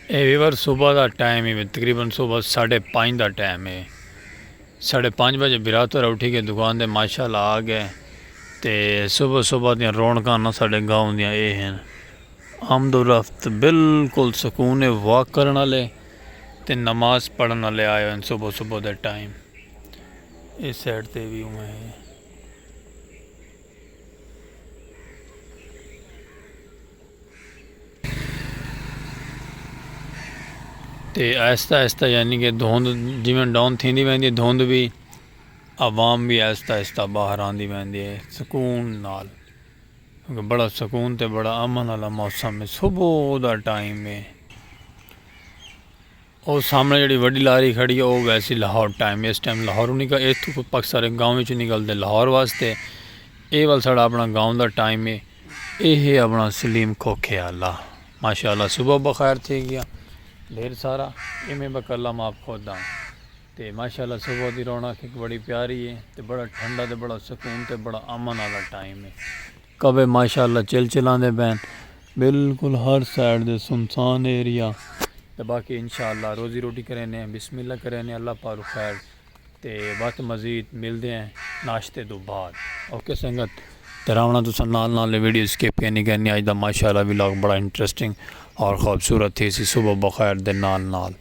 اے ویور صبح دا ٹائم ہے تقریبا صبح ساڑھے پانچ دا ٹائم ہے ساڑھے پانچ بجے برات ہو رہا اٹھی کے دکان دے ماشاءاللہ آ گئے تے صبح صبح دیاں رونکاں نہ ساڑھے گاؤں دیاں اے ہیں آمد و رفت بالکل سکون واک کرنا لے تے نماز پڑھنا لے آئے ہیں صبح صبح دے ٹائم اس سیٹ تے بھی ہوئے ہیں تے آہستہ آہستہ یعنی کہ دھوند جیویں ڈاؤن تھیندی ویندی دھوند بھی عوام بھی آہستہ آہستہ باہر آندی ویندی ہے سکون نال کیونکہ بڑا سکون تے بڑا امن والا موسم ہے صبح دا ٹائم ہے او سامنے جیڑھی وڈی لاری کھڑی ہے او ویسی لاہور ٹائم اس ٹائم لاہوروں نکل ایتھو کوئی پک سارے گاؤں وچوں نکل دے لاہور واسطے اے ول ساڑا اپنا گاؤں دا ٹائم ہے اے ہے اپنا سلیم کھوکھے اللہ ماشاءاللہ صبح بخیر تھی گیا ڈھیر سارا اے میں بک اللہ ماپ خود دا تے ماشاءاللہ صبح دی رونا کھک بڑی پیاری ہے تے بڑا ٹھنڈا تے بڑا سکون تے بڑا امن آلا ٹائم ہے کوے ماشاء اللہ چل چلاندے پین بالکل ہر سائیڈ دے سنسان ایریا تے باقی انشاء اللہ روزی روٹی کریں نے بسم اللہ کریں نے اللہ پارو خیر تے بات مزید مل دے ہیں ناشتے دو بعد اوکے سنگت تراونا تو سن نال نال ویڈیو سکیپ کے نہیں کرنی آج دا ماشاء اللہ ویلاگ بڑا انٹرسٹنگ اور خوبصورت تھی سی صبح بخیر دے نال نال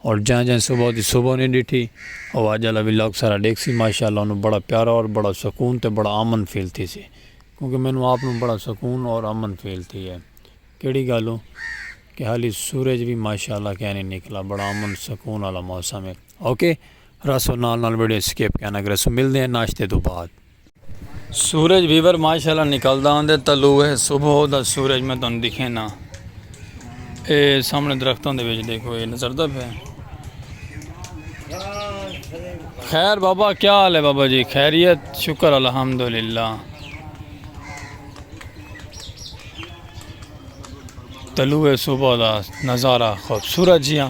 اور جاں جاں صبح دی صبح نی ڈیٹھی او اج آلا ولاگ سارا ڈیکھسی ماشاءاللہ اونوں بڑا پیارا اور بڑا سکون تے بڑا امن فیل تھیسی کیونکہ مینوں آپ نوں بڑا سکون اور امن فیل تھی ہے کیڑی گالوں کہ حالی سورج وی ماشاءاللہ کہہ نی نکلا بڑا امن سکون آلا موسم ہے اوکے رسو نال نال ویڈیو سکپ کہنا گرسو ملدے ہیں ناشتے تو بعد۔ سورج ویور ماشاءاللہ نکلدا ہوندے تلو ہے صبح دا سورج میں تن دکھے نا اے سامنے درختوں دے وچ دیکھو اے نظر دا پہ خیر بابا کیا حال ہے بابا جی خیریت شکر الحمدللہ تلو ہے صبح دا نظارہ خوبصورت جیاں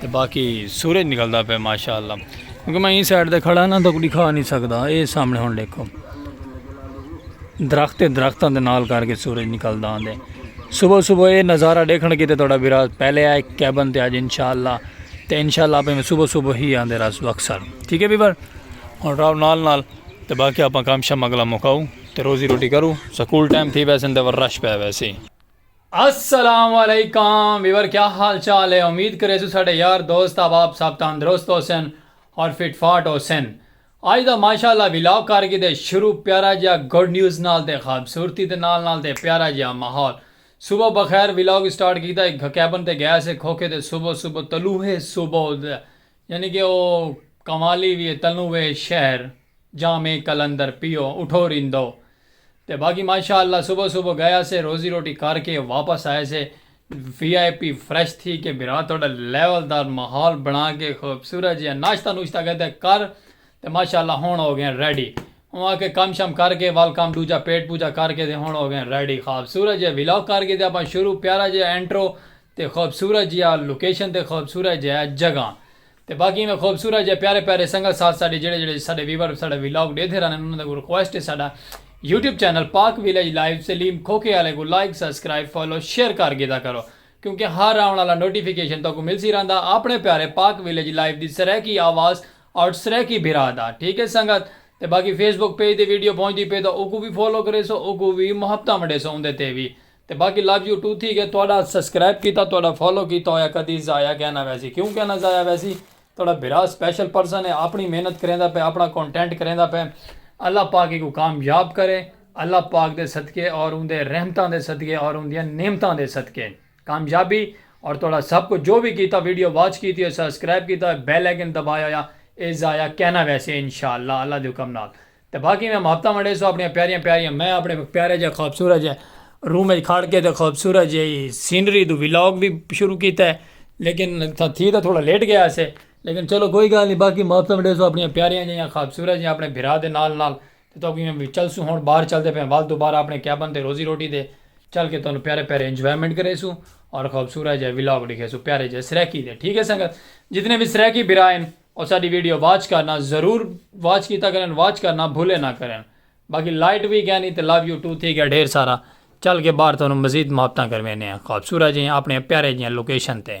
تے باقی سورج نکلدا پے ماشاءاللہ کیونکہ میں ایں سائیڈ تے کھڑا نہ تو دکھا نہیں سکدا اے سامنے ہن دیکھو درخت درختاں دے نال کر کے سورج نکلدا آندے صبح صبح اے نظارہ دیکھن کیتے تہاڈا ویرا پہلے آئے کیبن تے اج انشاءاللہ تے انشاءاللہ اپے میں صبح صبح ہی آندے راس وکسر ٹھیک ہے بیبر ہن راو نال نال تے باقی اپاں کام شام اگلا مکاؤ تے روزی روٹی کرو سکول ٹائم تھی ویسے تے رش پے ویسے السلام علیکم ویور کیا حال چال ہے امید کرے سو ساڈے یار دوست احباب سب تندرست ہوسن اور فٹ فاٹ ہوسن اج دا ماشاءاللہ ولاگ کر گھدے شروع پیارا جیا گڈ نیوز نال تے خوبصورتی دے نال نال تے پیارا جیا ماحول صبح بخیر ولاگ سٹارٹ کیتا ہک کیبن تے گیا سے کھوکھے تے صبح صبح طلوع صبح یعنی کہ او قوالی وی اے تنوں وے شہر جامع قلندر پیو اٹھو ریندو تے باقی ماشاء اللہ صبح صبح گئے سے روزی روٹی کر کے واپس آئے سے وی آئی پی فریش تھی کے بھرا تہاڈا لیول دار ماحول بنا کے خوبصورت جیہا ناشتہ نوشتہ کیتے کر تے ماشاء اللہ ہن ہو گئے ریڈی اوں آکھے کم شم کر کے ول کم ڈوجھا پیٹ پوجا کر کے تے ہن ہو گئے ریڈی خوبصورت جیہا ولاگ کر کے تے اپاں شروع پیارا جیہا انٹرو تے خوبصورت جیا لوکیشن تے خوبصورت جیا جگہ تے باقی ایویں خوبصورت جیا پیارے پیارے سنگل ساتھ ساڈے جیڑھے جیڑھے ساڈے ویور ساڈا ولاگ ڈیدھے رہندن انہاں دے اگوں ریکویسٹ ہے ساڈا YouTube channel Pak village live Saleem کھوکھے آلے کوں لائک سبسکرائب فالو شیئر کر گھیدا کرو کیونکہ ہر آون آلا نوٹیفیکیشن تہاکوں ملسی رہندا اپنے پیارے پاک ویلج لائیو دی سرائیکی آواز آٹ سرائیکی بھرا دا ٹھیک ہے سنگت تے باقی فیس بک پیج تے ویڈیو پہنچدی پئے تاں اوکوں وی فالو کریسو اوکوں وی محبتاں ونڈیسو اوندے تے وی تے باقی لو یو ٹو تھی گئے تہاڈا سبسکرائب کیتا تہاڈا فالو کیتا ہویا کدی ضائع کہہ نہ ویسی کیوں کہہ نہ ضائع ویسی تہاڈا بھرا اسپیشل پرسن ہے اپنی محنت کریندا پئے اپنا کانٹینٹ کریندا پئے اللہ پاک ایکوں کامیاب کرے اللہ پاک دے صدقے اور اوندے رحمتاں دے صدقے اور اوندیاں نعمتاں دے صدقے کامیابی اور تہاڈا سب کچھ جو وی کیتا ویڈیو واچ کیتی ہوئی سبسکرائب کیتا ہویا بیل آئیکن دبایا ہویا اے ضائع کہہ نہ ویسی انشاءاللہ اللہ دے حکم نال تے باقی میں محبتاں ونڈے سو اپنیاں پیاریاں پیاریاں میں اپنے پیارے جے خوبصورت جے روم اچ کھڑ کے تے خوبصورت جے سینری دو ولاگ بھی شروع کیتا ہے لیکن تھی تاں تھوڑا لیٹ گیا سے لیکن چلو کوئی گال نہیں باقی محبتاں ونڈے سو اپنیاں پیاریاں جے خوبصورت جے اپنے بھرا دے نال نال تے تو کوئی میں چل سو ہون باہر چل دے پھر وال دوبارہ اپنے کیبن تے روزی روٹی دے چل کے تانوں پیارے پیارے انجوائمنٹ کرے سو اور خوبصورت جے ولاگ ڈیکھے سو پیارے جے سریکی دے ٹھیک ہے سنگت جتنے بھی سریکی بھرا ہیں. او ساڈی ویڈیو واچ کرنا ضرور واچ کیتا کرن واچ کرنا بھولے نہ کرن باقی لائٹ وی گینی تے لو یو ٹو تھی گیا ڈھیر سارا چل کے باہر تھانوں مزید محبتاں کروینے ہیں خوبصورت جیاں اپنے پیارے جیاں لوکیشن تے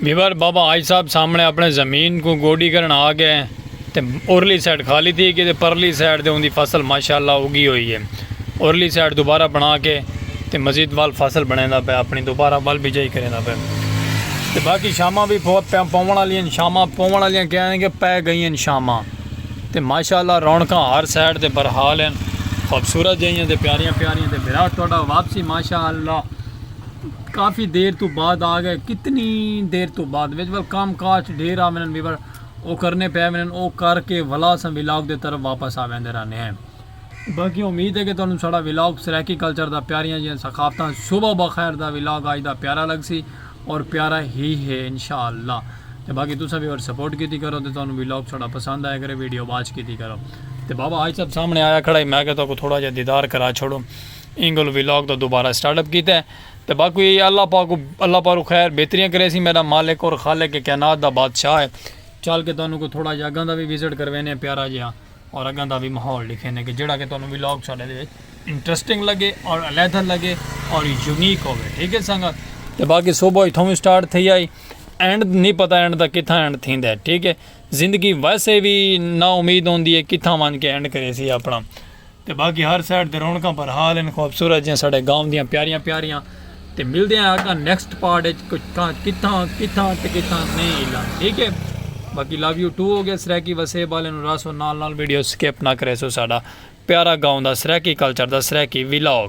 بیور بابا آج صاحب سامنے اپنے زمین کو گوڈی کرن آ گئے تے اورلی سائڈ خالی تھی کہ پرلی سائڈ دے ان دی فصل ماشاءاللہ اگی ہوئی ہے اورلی سائڈ دوبارہ بنا کے تے مزید وال فصل بنے دا پہ اپنی دوبارہ وال بجائی کرے دا پہ تے باقی شامہ بھی بہت پہ پومن والی ہیں شامہ پومن والی ہیں کہہ رہے ہیں کہ پہ گئی ہیں شامہ تے ماشاء اللہ رونقاں ہر سائیڈ تے برحال ہن خوبصورت جہیاں تے پیاریاں پیاریاں تے بھرا تہاڈا واپسی ماشاء اللہ کافی دیر تو بعد آ گئے کتنی دیر تو بعد وچ ول کام کاج ڈھیر آ ونن وی ول او کرنے پے ونن او کر کے ولا اساں ولاگ دے طرف واپس آ ویندے رہنے ہیں باقی امید ہے کہ تہانوں ساڈا ولاگ سرائیکی کلچر دا پیاریاں جیاں ثقافتاں صبح بخیر دا ولاگ آج دا پیارا لگسی اور پیارا ہی ہے انشاءاللہ تے باقی تساں وی اور سپورٹ کیتی کرو تے تہانوں ولاگ ساڈا پسند آیا کرے ویڈیو واچ کیتی کرو تے بابا حاج صاحب سامنے آیا کھڑا ہے میں کہ تہاکوں تھوڑا جیہا دیدار کرا چھوڑوں اینگل ولاگ دا دوبارہ سٹارٹ اپ کیتا ہے تے باقی اللہ پاک اللہ پاک خیر بہتریاں کریسی میڈا مالک اور خالق کائنات دا بادشاہ ہے چل کے تہانوں کو تھوڑا جیہا اگاں دا وی وزٹ کروینے پیارا جیہا اور اگاں دا وی ماحول ڈکھینے کہ جیڑھا کہ تہانوں ولاگ ساڈے دے وچ انٹرسٹنگ لگے اور علیحدہ لگے اور یونیک ہووے ٹھیک ہے سنگت تے باقی صبح اتھوں وی سٹارٹ تھئی آئی اینڈ نہیں پتہ اینڈ دا کتھاں اینڈ تھیندا ہے ٹھیک ہے زندگی ویسے وی نا امید ہوندی ہے کتھاں ونج کے اینڈ کریسی اپنا تے باقی ہر سائیڈ تے رونقاں پر حال ان خوبصورت جیاں ساڈے گاؤں دیاں پیاریاں پیاریاں تے ملدے ہیں اگاں نیکسٹ پارٹ اچ کتھاں کتھاں کتھاں تے کتھاں نہیں ہلا ٹھیک ہے باقی لو یو ٹو ہو گیا سرائیکی وسے والے نو راسو نال نال ویڈیو سکپ نہ کرے سو ساڈا پیارا گاؤں دا سرائیکی کلچر دا سرائیکی ویلاگ